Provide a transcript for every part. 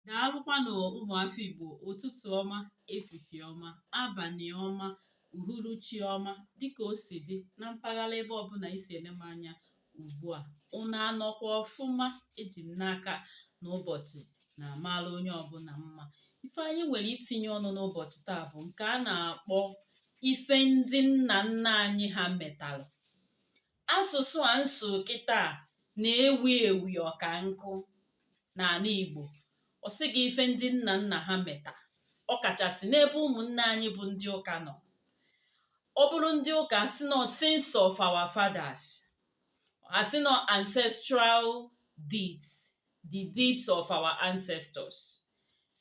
daalụkwanụ ụmụafọ Igbo ụtụtụ ọma efifie ọma abalị ọma uhuruchi ọma dịka o si dị na mpaghara ebe ọbụla i si ele m anya ugbu a unu anọkwa ọfụma eji m n'aka na ụbọchị na-amara onye ọbụla mma ife anyị nwere itinye ọnụ n'ụbọchị taa bụ nke a na-akpọ ife ndị nna nna anyị ha metalụ asụsụ a nso kịta na-ewi ewi ọka nkụ n'ala Igbo ọ sị gị ife ndị nna nna ha meta ọ kachasị n'ebe ụmụnne anyị bụ ndị ụka nọ ọ bụrụ ndị ụka asị nọ sins of our fathers asị nọ ancestral deeds the deeds of our ancestors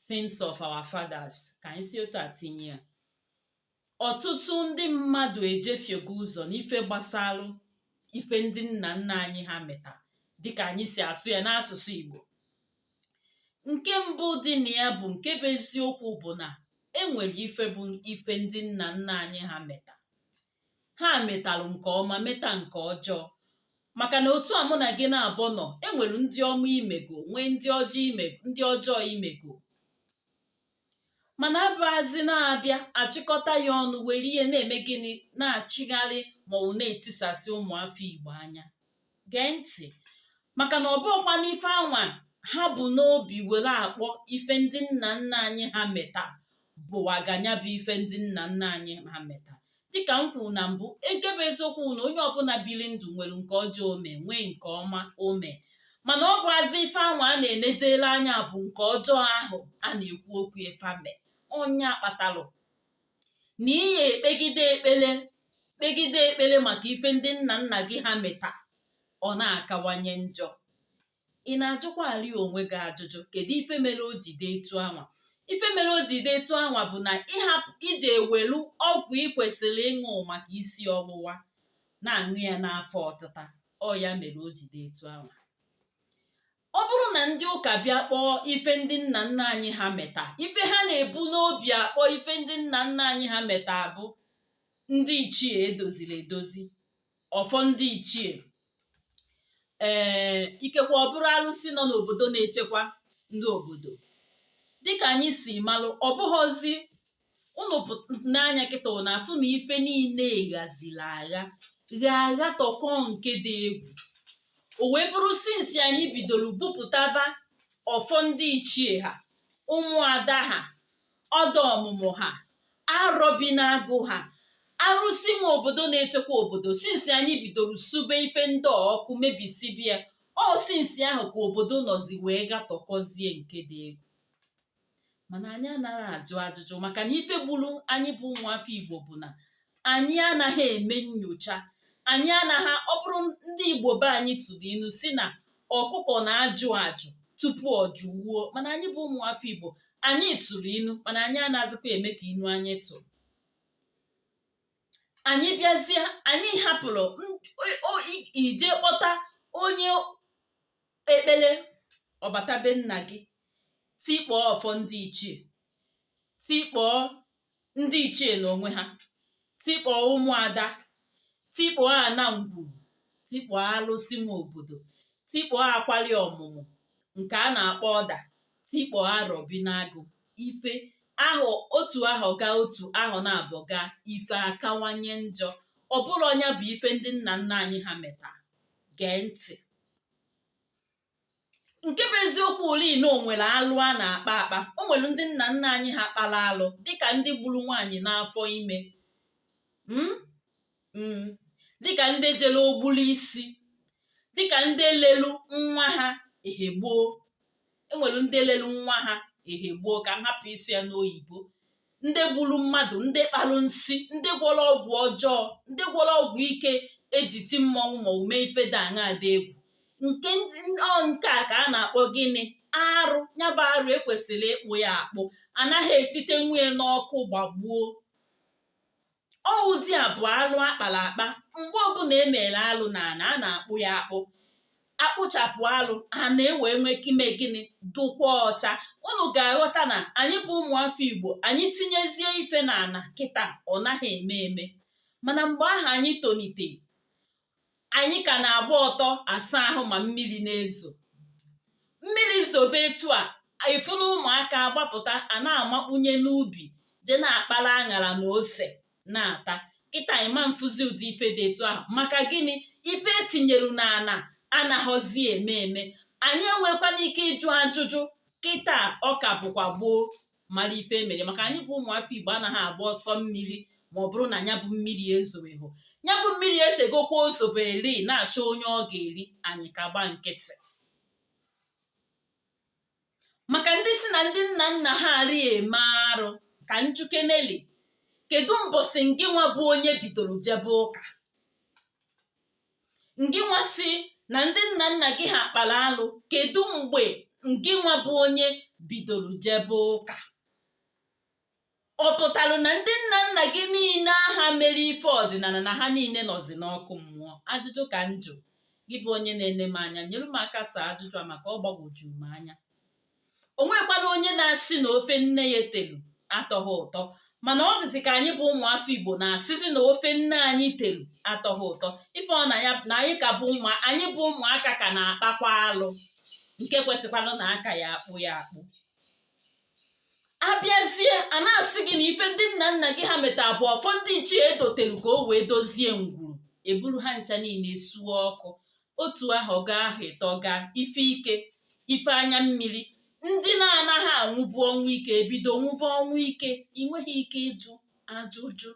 sins of our fathers ka anyị si otu a tinye ya ọtụtụ ndị mmadụ ejefiego ụzọ n'ife gbasalụ ife ndị nna nna anyị ha meta dịka anyị si asụ ya n'asụsụ Igbo nke mbụ dị na ya bụ nke bụ eziokwu bụ na enwere ife bụ ife ndị nna nna anyị ha meta ha metalụ nke ọma meta nke ọjọọ maka na otu a mụ na gị naabọ nọ enwere ndị ọma i mego nwee ndị ọjọọ i mego mana abụazị na-abịa achịkọta ya ọnụ were ya na-eme gịnị na-achịgharị maọbụ na-etisasị ụmụafọ Igbo anya gee ntị maka na ọ bụghịkwa n'ife anwa ha bu n'obi were akpọ ife ndị nna nna anyị ha meta bụwaganya bụ ife ndị nna nna anyị ha meta dịka m kwuru na mbụ nke bụ eziokwu na onye ọbụla biri ndụ nwere nke ọjọọ o me nwee nke ọma o me mana ọ bụazị ife anwa a na-enejere anya bụ nke ọjọọ ahụ a na-ekwu okwu efame ọ nya kpatalụ na ị ya-ekpegide ekpere kpegide ekpere maka ife ndị nna nna gị ha meta ọ na-akawanye njọ ị na-ajụkwa arị onwe gị ajụjụ kedu ife mere o ji dị etu anwa ife mere o ji dị etu anwa bụ na ị hapụ ije ewelu ọgwụ ị kwesịrị ịṅụ maka isi ọwụwa na-aṅụ ya n'afọ ọtịta ọ ya mere o ji dị etu anwa ọ bụrụ na ndị ụka bịa kpọọ ife ndị nna nna anyị ha meta ife ha na-ebu n'obi akpọ ife ndị nna nna anyị ha meta bụ ndị ichie edoziri edozi ọfọ ndị ichie ee ikekwe ọ bụrụ alụsị nọ n'obodo na-echekwa ndị obodo dịka anyị si malụ ọ bụghịzi ụnụ n'anya kịta na-afụ na ife niile ghazila agha gha agha tọkọ nke dị egwu o wee bụrụ sinsi anyị bidoro bupụtaba ọfọ ndị ichie ha ụmụada ha ọda ọmụmụ ha arọbi n'agụ ha arụsị nwe obodo na-echekwa obodo sinsi anyị bidoro sube ife ndị a ọkụ mebisibia ọ sinsi ahụ ka obodo nọzi wee gatọkọzie nke dị egwu mana anyị anaghị ajụ ajụjụ maka na ife gburu anyị bụ ụmụafọ igbo bụ na anyị anaghị eme nyocha anyị anaghị ọ bụrụ ndị igbo be anyị tụrụ inu si na ọkụkọ na-ajụ ajụ tupu ọ jụwuo mana anyị bụ ụmụ afọ igbo anyị tụrụ inu mana anyị anaghịzikwa eme ka inu anyị tụrụ anyị bịazie anyị hapụrụ ije kpọta onye ekpere ọ bata be nna gị tikpọọ ọfọ ndị ichie tikpọọ ndị ichie n'onwe ha tikpọọ ụmụada tikpọọ ana ngwuru tikpọọ alụsị nwe obodo tikpọọ akwali ọmụmụ nke a na-akpọ ọda tikpọọ arọbi n'agụ ife ahụ otu ahọ gaa otu ahọ naabọ gaa ife akawanye njọ ọ bụrụ ọ nya bụ ife ndị nna nna anyị ha meta gee ntị nke bụ eziokwu ole na o nwere alụ a na-akpa akpa o nwere ndị nna nna anyị ha kpara alụ dịka ndị gburu nwaanyị n'afọ ime hmm? Hmm. dịka ndị jere ogbulu isi dịka ndị lelu nwa ha ehe gboo enwere ndị lelu nwa ha ehe gboo ka m hapụ ịsụ ya n'oyibo ndị gburu mmadụ ndị kparụ nsi ndị gwọrọ ọgwụ ọjọọ ndị gwọrọ ọgwụ ike eji ti mmọnwụ ma ọ bụ mee ife dị aṅa dị egwu nke ndị ọ nke a ka a na-akpọ gịnị arụ ya bụ arụ ekwesịrị ịkpụ ya akpụ anaghị etite wụnye n'ọkụ gbagbuo ọ ụdị a bụ alụ akpara akpa mgbe ọbụla e mere alụ na ana a na-akpụ ya akpụ akpụchapụ alụ ana ewee nwee ike ime gịnị dụkwa ọcha unu ga-aghọta na anyị bụ ụmụafọ igbo anyị tinyezie ife na ana kịta ọ naghị eme eme mana mgbe ahụ anyị tonite anyị ka na-agba ọtọ asa ahụ ma mmiri na-ezo mmiri zobe etu a ị fụ na ụmụaka agbapụta a na-amakpunye n'ubi je na-akpara aṅara na ose na-ata kịta ị ma na-afụzi ụdị ife dị etu ahụ maka gịnị ife etinyeru n'ana anaghọzi eme eme anyị enwekwana ike ịjụ ajụjụ kịta ọ ka bụkwa gboo mara ife emere maka anyị bụ ụmụafọ Igbo anaghị agba ọsọ mmiri ma ọ bụrụ na ya bụ mmiri ezobeghị ya bụ mmiri etegokwa o zoberi na-achọ onye ọ ga-eri anyị ka gba nkịtị maka ndị si na ndị nna nna ha arị eme arụ ka m jụkenelị kedu mbọsị ngị nwa bụ onye bidoro jebe ụka ngịnwa sị na ndị nna nna gị ha kpara alụ kedu mgbe ngịnwa bụ onye bidoro jebe ụka ọ pụtara na ndị nna nna gị niile aha mere ife ọdịnala na ha niile nọzi n'ọkụ mmụọ ajụjụ ka njụ gị bụ onye na-ene m anya nyere m aka saa ajụjụ a maka ọ gbagwojuru m anya o nwekwana onye na-asị na ofe nne ya telu atọghị ụtọ mana ọ dịzi ka anyị bụ ụmụafọ igbo na-asịzi na ofe nne anyị telu atọghị ụtọ ife ọ na ya na anyị ka bụ ụmụ anyị bụ ụmụaka ka na-akpakwa alụ nke kwesịkwara na a ka ya-akpụ ya akpụ abịazie a na-asị gị na ife ndị nna nna gị ha meta bụ ọfọ ndị ichie edotere ka o wee dozie ngwuru eburu ha ncha niile suo ọkụ otu ahọ gaa ahọ ịtọ gaa ife ike ife anya mmiri ndị na-anaghị anwụbu ọnwụ ike ebido nwụba ọnwụ ike i nweghị ike ịjụ ajụjụ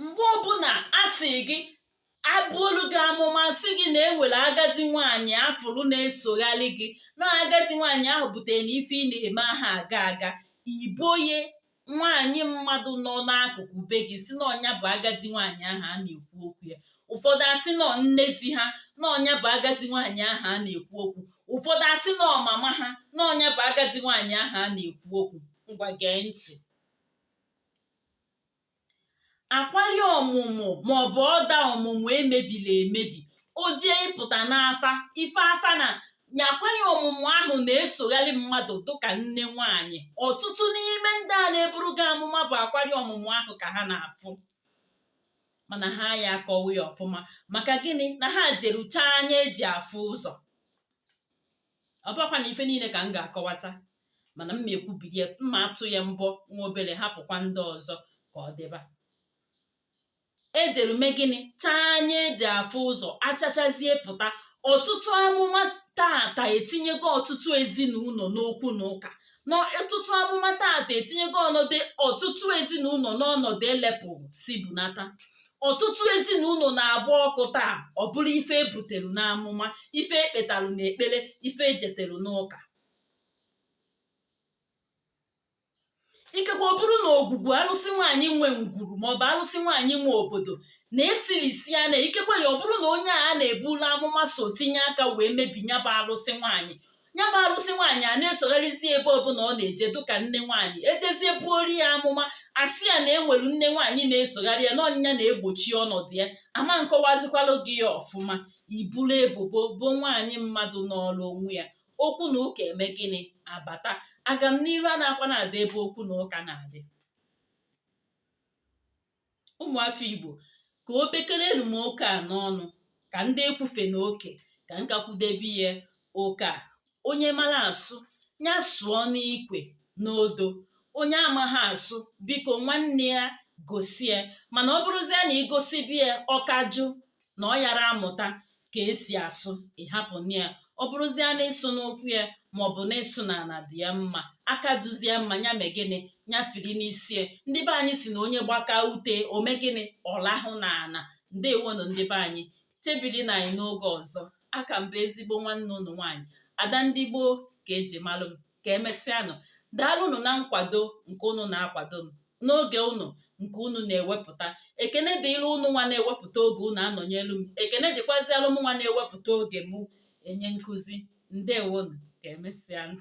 mgbe ọbụla a sị gị ebuolu gị amụma sị gị na enwere agadi nwaanyị afụrụ na-esogharị gị na agadi nwaanyị ahụ butere na ife ị na-eme aha aga aga i boye nwaanyị mmadụ nọ n'akụkụ be gị sị na ọ nya bụ agadi nwaanyị ahụ a na-ekwu okwu ya ụfọdụ asị na ọ nne di ha na ọ nya bụ agadi nwaanyị ahụ a na-ekwu okwu ụfọdụ asị na ọ mama ha na ọ nya bụ agadi nwaanyị ahụ a na-ekwu okwu ngwa gee ntị akwali ọmụmụ maọbụ ọda ọmụmụ emebiri emebi o jee ịpụta n'afa ife afa na nya akwali ọmụmụ ahụ na-esogharị mmadụ dịka nne nwaanyị ọtụtụ n'ime ndị a na-eburu gị amụma bụ akwari ọmụmụ ahụ ka ha na-afụ mana ha ya akọwa ya ọfụma maka gịnị na ha jeru chaa anya eji afụ ụzọ ọ bụkwana ife niile ka m ga-akọwata mana m na-ekwubiri ya m ma atụ ya mbọ nwa obere hapụkwa ndị ọzọ ka ọ dịba ejeru mee gịnị chaa anya eji afụ ụzọ achachazie pụta ọtụtụ amụma tata etinyego ọtụtụ ezinụlọ n'okwu na ụka na ọtụtụ amụma tata etinyego ọnọdụ ọtụtụ ezinụlọ n'ọnọdụ elepụrụ si bunata ọtụtụ ezinụlọ na-agba ọkụ taa ọ bụrụ ife ebutelu n'amụma ife ekpetelu n'ekpere ife ejetelu n'ụka ikekwe ọ bụrụ na ogwugwu alụsị nwaanyị nwe ngwuru maọbụ alụsị nwaanyị nwe obodo na etirisi ya na ikekwe ya ọ bụrụ na onye a na-eburu amụma so tinye aka wee mebi nya bụ alụsị nwaanyị ya bụ alụsị nwaanyị a na-esogharịzi ebe ọbụla ọ na-eje dụka nne nwaanyị ejezie buoru ya amụma asị ya na enwere nne nwaanyị na-esogharị ya na ọ nya na-egbochi ọnọdụ ya ama nkọwazikwalụ gị ya ọfụma i buru ebubo bo nwaanyị mmadụ nọrọ onwe ya okwu na ụka emee gịnị abata agamniru anakwana adị ebe okwu na ụka na-adị ụmụafọ igbo ka o bekere m oke a n'ọnụ ka ndị ekwufe na oke ka m ka kwudebe ya oke a onye mara asụ ya sụọ n'ikwe n'odo onye amaghị asụ biko nwanne ya gosi ya mana ọ bụrụzie na i gosibe ya ọ ka jụ na ọ yara amụta ka esi asụ ị hapụnụ ya ọ bụrụzie na ịsụ n'ụkwụ ya maọbụ na ịsụ n'ala dị ya mma aka duzie mma ya mee gịnị ya firi n'isi ya ndị be anyị sị na onye gbakaa ute o mee gịnị ọ lahụ n'ala ndewonụ ndị be anyị chebirinụ anyị n'oge ọzọ aka m bụ ezigbo nwanne unu nwaanyị ada ndị igbo ka eji malụ m ka emesịanụ daalụnụ na nkwado nke unu na-akwado m n'oge unu nke unu na-ewepụta ekene dịịrị unu nwa na-ewepụta oge unu anọnyelu m ekene dịkwazialụ m nwa na-ewepụta oge mụ enye nkụzi ndewonu ka emesịanụ